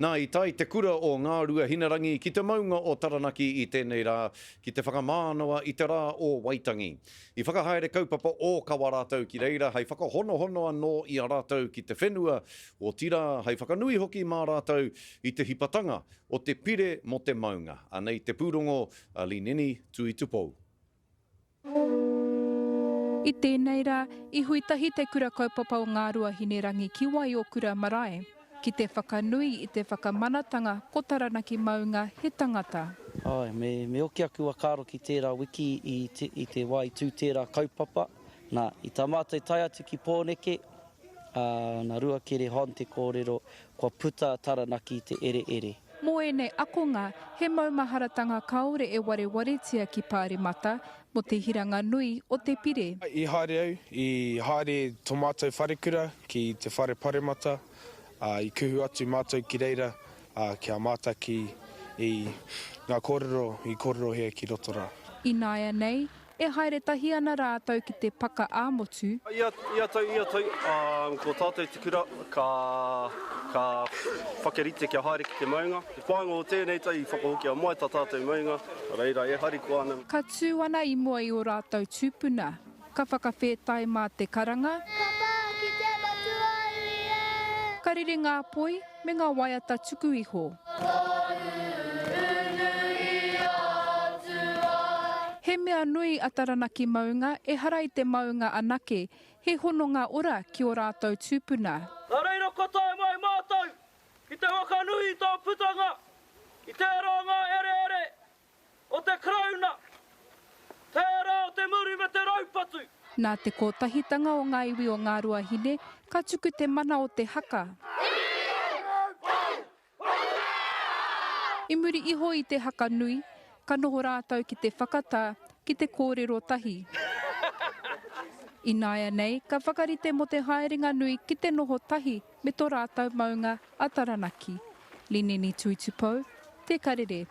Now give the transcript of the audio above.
Nā, i tae te kura o Ngāruahinarangī ki te maunga o Taranaki i tēnei rā ki te whakamānawa i te rā o Waitangi. I whakahaere kaupapa ōkawa rātou ki reira hei whakahonohono anō i a rātou ki te whenua, otirā hei whakanui hoki mā rātou i te hipatanga o te pire mō te maunga. Anei te pūrongo a Lineni Tuitupou. I tēnei rā, i hui tahi Te Kura Kaupapa o Ngāruahinerangi ki Waiokura marae, ki te whakanui i te whakamanatanga ko Taranaki Maunga he tangata. Āe, me, me oki aku whakaaro ki tērā wiki i te, i te wā i tū tērā kaupapa. Nā, i tā mātou tae atu ki Pōneke, Ā, nā Ruakere Hon te kōrero, kua puta a Taranaki i te ereere. Mō ēnei akonga, he maumaharatanga kāore e warewaretia ki Pāremata mō te hiranga nui o te pire. I haere au, i haere tō mātou wharekura ki te Whare Paremata, ā, i kuhu atu mātou ki reira, ā, kia mātaki i ngā kōrero i kōrerohia ki roto rā. Ināianei, E haere tahi ana rātou ki te paka ā-motu. Ia, ia tau, ia tau, ko tātou te kura ka, ka whakarite kia haere ki te maunga. Te whāinga o tēnei tau i whakahokia mai tā tātou maunga, nā reira e harikoa ana. Ka tū ana i mua i ō rātou tūpuna, ka whakawhētai mā te karanga. Ka pā ki te Matū a iwi e! Ka rere ngā poi. me ngā waiata tuku iho. He mea nui a Taranaki Maunga, ehara i te maunga anake, he hononga ora ki ō rātou tūpuna. Nā reira kua tae mai mātou ki te whakanui i tō putanga, i tērā o ngā herehere O te Karauna, tērā o te muru me te raupatu. Nā te kotahitanga o ngā iwi o Ngāruahine, ka tuku te mana o te haka. I muri iho i te haka nui, ka noho rātou ki te whakatā, ki te kōrero tahi. Ināianei, ka whakarite mō te haerenga nui ki te noho tahi me tō rātou maunga a Taranaki. Lineni Tuitupou, Te Karere.